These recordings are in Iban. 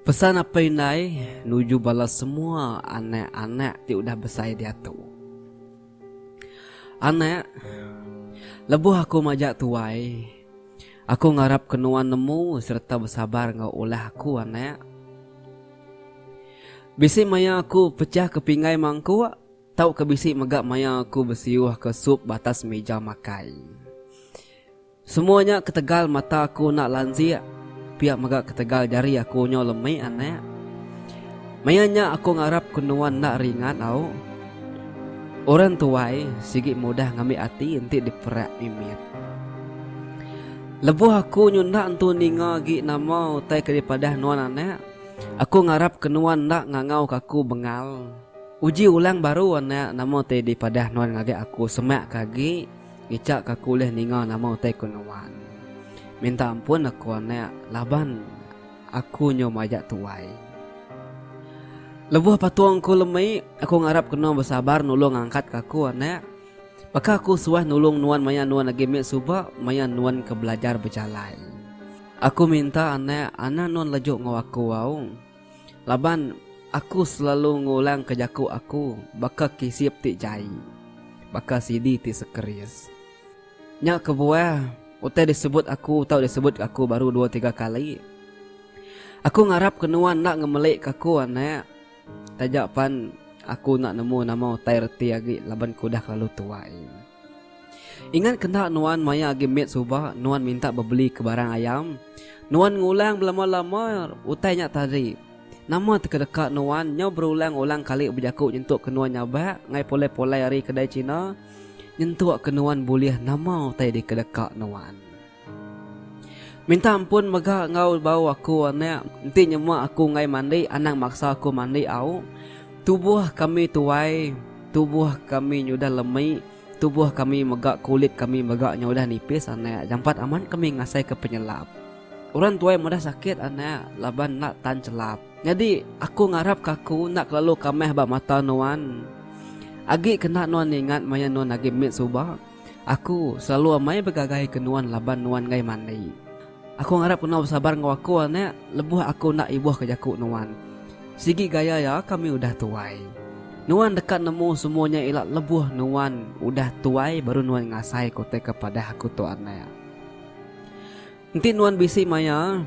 Pesan apai indai nuju bala semua anak-anak ti udah besai diatu. Anak, lebuh aku majak tuai, aku ngarapka nuan nemu sereta besabar enggau ulah aku anak. Bisi maya aku pechahka pinggai mangkuk. Tauka bisi mega maya aku besiuhka sup ba atas meja makai. Semua nya ketegal mata aku enda lanjik, pia mega ketegal jari aku nyau lemi anak. Maya nya aku ngarap ku nuan enda ringat au. Orang tuai sigi mudah ngambi ati enti diperak mimit. Lebuh aku nyu enda entu ninga agi nama utai ke dipadah nuan anak, aku ngarap ke nuan enda ngangauka aku bengal. Uji ulang baru anak nama ti dipadah nuan ngagai aku semak ke agi ngicha ke aku ulih ninga nama utai ku nuan. Minta ampun aku anak laban aku nyu majak tuai. Lebuh patung ku lemi aku ngarap kena besabar nulung ngangkat ke aku anak. Baka aku suah nulung nuan maya nuan agi mit suba maya nuan ke belajar bejalai. Aku minta anak anang nuan lejuk enggau aku au. Laban aku selalu ngulangka jaku aku baka kisip ti jai, baka CD ti sekeris. Nya kebuah, utai disebut aku tau disebut aku baru dua tiga kali. Aku ngarapka nuan enda ngemelika aku, anak. Taja pan aku enda nemu nama utai reti agi laban ku udah kelalu tuai. Ingat kena nuan maya agi mit suba nuan minta bebeli ke barang ayam. Nuan ngulang belama-lama utai nya tadi. Nama teka deka nuan nyau berulang-ulang kali bejaku nyentuk ke nuan nyabak ngai pulai-pulai ari kedai China nyentuk ke nuan bulih nama utai dika deka nuan. Minta ampun mega enggau bau aku anak enti nyema aku enggai mandi anang maksa aku mandi au tubuh kami tuai tubuh kami nyudah lemi tubuh kami mega kulit kami mega nyudah nipis anak jampat amat kami ngasai ke penyelap orang tuai meda sakit anak laban enda tan chelap nyadi aku ngarap ke aku enda kelalu kamih ba mata nuan agi kena nuan ingat maya nuan agi mit suba. Aku selalu amai begagaika nuan laban nuan enggai mandi. Aku ngarap kena besabar enggau aku, anak, lebuh aku enda ibuhka jaku nuan. Sigi gaya iya kami udah tuai. Nuan deka nemu semua nya ila lebuh nuan udah tuai baru nuan ngasai ku te kepadah aku tu, anak. Enti nuan bisi maya,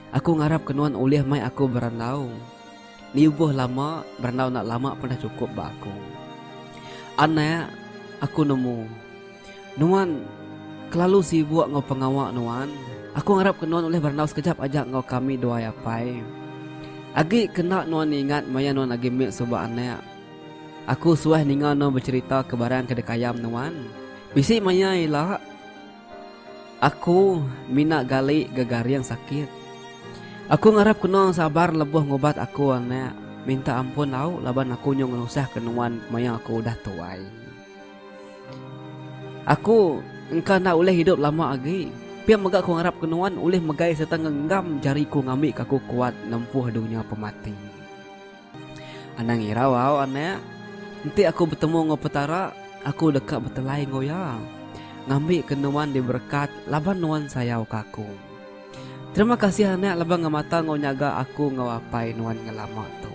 aku ngarapka nuan ulih mai aku berandau. Niubuh lama, berandau enda lama pun dah chukup ba aku. Anak, aku nemu. Nuan kelalu sibuk enggau pengawa nuan. Aku ngarapka nuan ulih berandau sekejap aja enggau kami dua ai apai. Agi ke enda nuan ingat maya nuan agi mit suba anak. Aku suah ninga nuan becherita ke barang ke dikayam nuan. Bisi maya ila. Aku mina gali gegaring sakit. Aku ngarap keno sabar leboh ngubat aku anak. Minta ampun lauk laban aku nyu ngenusah ke nuan maya aku udah tuai. Aku engka enda ulih hidup lama agi. Pia mega aku ngarap ke nuan ulih megai serta ngenggam jari ku ngambi ka aku kuat nempuh dunya pemati. Anang irau au anak. Enti aku betemu enggau Petara, aku deka betelai enggau Iya, ngambika nuan diberekat laban nuan sayauka aku. Terima kasih anak laban ngemata enggau nyaga aku enggau apai nuan ngelama tu.